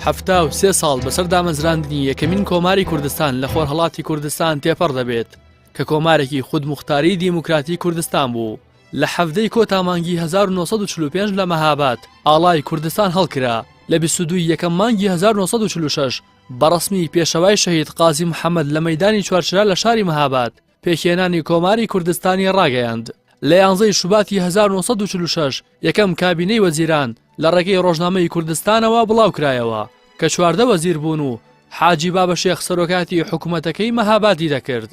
حەفتا و سێ ساڵ بەسەر دامەزراندنی یەکەمین کۆماری کوردستان لە خۆرهڵاتی کوردستان تێپەڕ دەبێت کە کۆمارێکی خود مختاری دیموکراتی کوردستان بوو لە حەفتەی کۆتامانگی 1945 لە مەهاباد ئاڵای کوردستان هەڵکرا لە 22 یەکەم مانگی 1946 بەڕسمی پێشەوای شەهید قازی محەممەد لە مەدانی چوارچرا لە شاری مەهاباد پێکهێنانی کۆماری کوردستانی ڕاگەیاند، لە یانزە ی شوباتی هەزار و نۆ سەد و چل و شەش یەکەم کابینەی وەزیران لە ڕێگەی ڕۆژنامەی کوردستانەوە بڵاوکرایەوە کە چواردە وەزیر بوون و حاجی بابەشێخ سەرۆکایەتی حکوومەتەکەی مەهابادی دەکرد.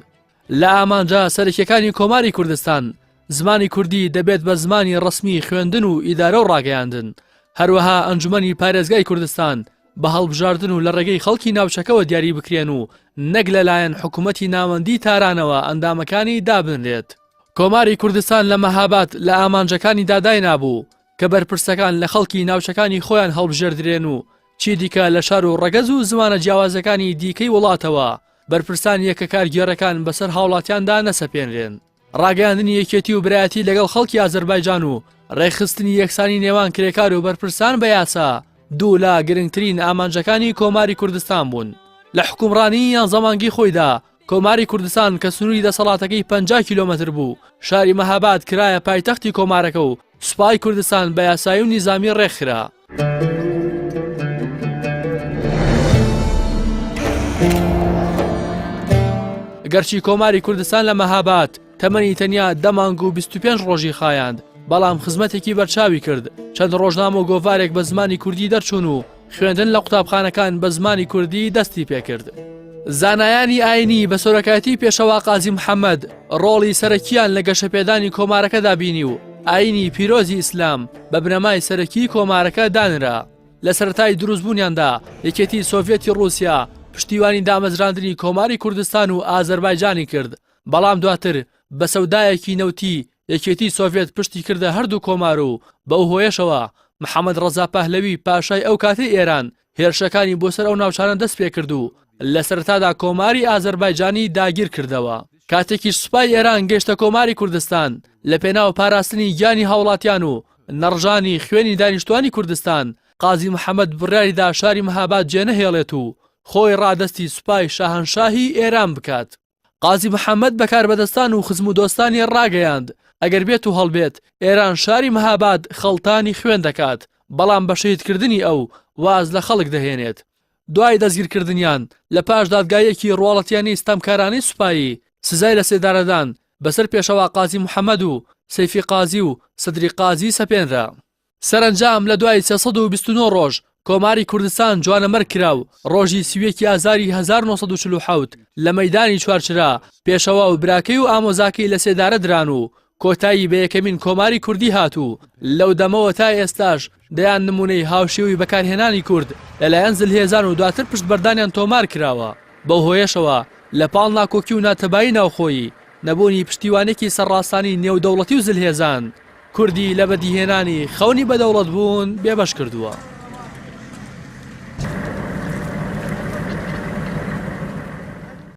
لە ئامانجە سەرەکییەکانی کۆماری کوردستان، زمانی کوردی دەبێت بە زمانی ڕەسمیی خوێندن و ئیدارە و ڕاگەیاندن، هەروەها ئەنجومەنی پارێزگای کوردستان بە هەڵبژاردن و لە ڕێگەی خەڵکی ناوچەکەوە دیاری بکرێن و نەک لەلایەن حکوومەتی ناوەندی تارانەوە ئەندامەکانی دابنرێت. کۆماری کوردستان لە مەهاباد لە ئامانجەکانی داداینابوو کە بەرپرسەکان لە خەڵکی ناوچەکانی خۆیان هەڵبژێردرێن و چیدیکە لە شار و ڕەگەز و زمانە جیاوازەکانی دیکەی وڵاتەوە بەرپرسان یەکە کارگێڕەکان بەسەر هاوڵاتیاندا نەسەپێنرێن. ڕاگەیاندنی یەکێتی و برایەتی لەگەڵ خەڵکی ئازەربایجان و ڕێکخستنی یەکسانی نێوان کرێکار و بەرپرسان بە یاسا دوو لە گرنگترین ئامانجەکانی کۆماری کوردستان بوون لە حکومڕانی یان زەمانگی خۆیدا کۆماری کوردستان کە سنووری دەسەڵاتەکەی پ کیلومتر بوو شاری مەهاباد کرایە پایتەختی کۆمارەکە و سوپای کوردستان بە یاسایی و نیزامی ڕێکخرا. گەرچی کۆماری کوردستان لە مەهاباد تەمەنی تەنیا دە مانگ و 25 ڕۆژی خایاند، بەڵام خزمەتێکی بەرچاوی کرد، چەند ڕۆژنامە و گۆڤارێک بە زمانی کوردی دەرچوون و خوێندن لە قوتابخانەکان بە زمانی کوردی دەستی پێکرد. زانایانی ئاینی بە سۆرەکایەتی پێشەوا قازی محەممەد ڕۆڵی سەرەکیان لە گەشەپێدانی کۆمارەکەدا بینی و ئاینی پیرۆزی ئیسلام بە بنەمای سەرەکی کۆمارەکە دانرا لە سەرای دروستبوونیاندا یەکێتی سۆڤەتی ڕوسیا پشتیوانی دامەزراندنی کۆماری کوردستان و ئازەربایجانی کرد بەڵام دواتر بە سەودایەکی نەوتی یەکێتی سۆڤێت پشتی کردە هەردوو کۆمار و بەو هۆیەشەوە محەمەد ڕەزا پەهلەوی پاشای ئەو کاتەی ئێران هێرشەکانی بۆ سەر ئەو ناوچانە دەست پێ کرد و لە سەرەتادا کۆماری ئازەربایجانی داگیر کردەوە. کاتێکیش سوپای ئێران گەیشتە کۆماری کوردستان لە پێناو پاراستنی گیانی هاوڵاتیان و نەڕژانی خوێنی دانیشتوانی کوردستان قازی محەمەد بڕیاری دا شاری مەهاباد جێنەهێڵێت و خۆی ڕادەستی سوپای شاهەنشاهی ئێران بکات. قازی محەممەد بە کاربەدەستان و خزم و دۆستانی ڕاگەیاند، ئەگەر بێت و هەڵبێت، ئێران شاری مهاباد خەڵتانی خوێن دەکات، بەڵام بە شەهیدکردنی ئەو، واز لە خەڵک دەهێنێت. دوای دەستگیرکردنیان، لە پاش دادگاییەکی ڕواڵەتییانەی ستەمکارانەی سوپایی، سزای لەسێدارەدان بەسەر پێشەوا قازی محەممەد و سەیفی قازی و سەدری قازی سەپێنرا. سەرەنجام لە دوای سێ سەد و بیست و نۆ ڕۆژ کۆماری کوردستان جوانەمەرگ کرا و ڕۆژی سی و یەک ی ئازاری هەزار و نۆ سەد و چل و حەوت لە مەیدانی چوارچرا پێشەوا و براکەی و ئامۆزاکەی لە سێدارە دران و کۆتایی بە یەکەمین کۆماری کوردی هات و لەو دەمەوە تا ئێستاش دەیان نموونەی هاوشێوەی بەکارهێنانی کورد لەلایەن زلهێزان و دواتر پشتبەردانیان تۆمار کراوە بەو هۆیەشەوە لە پاڵ ناکۆکی و ناتەبایی ناوخۆیی نەبوونی پشتیوانێکی سەرڕاستانی نێودەوڵەتی و زلهێزان، کوردی لە بەدیهێنانی خەونی بەدەوڵەتبوون بێبەش کردووە.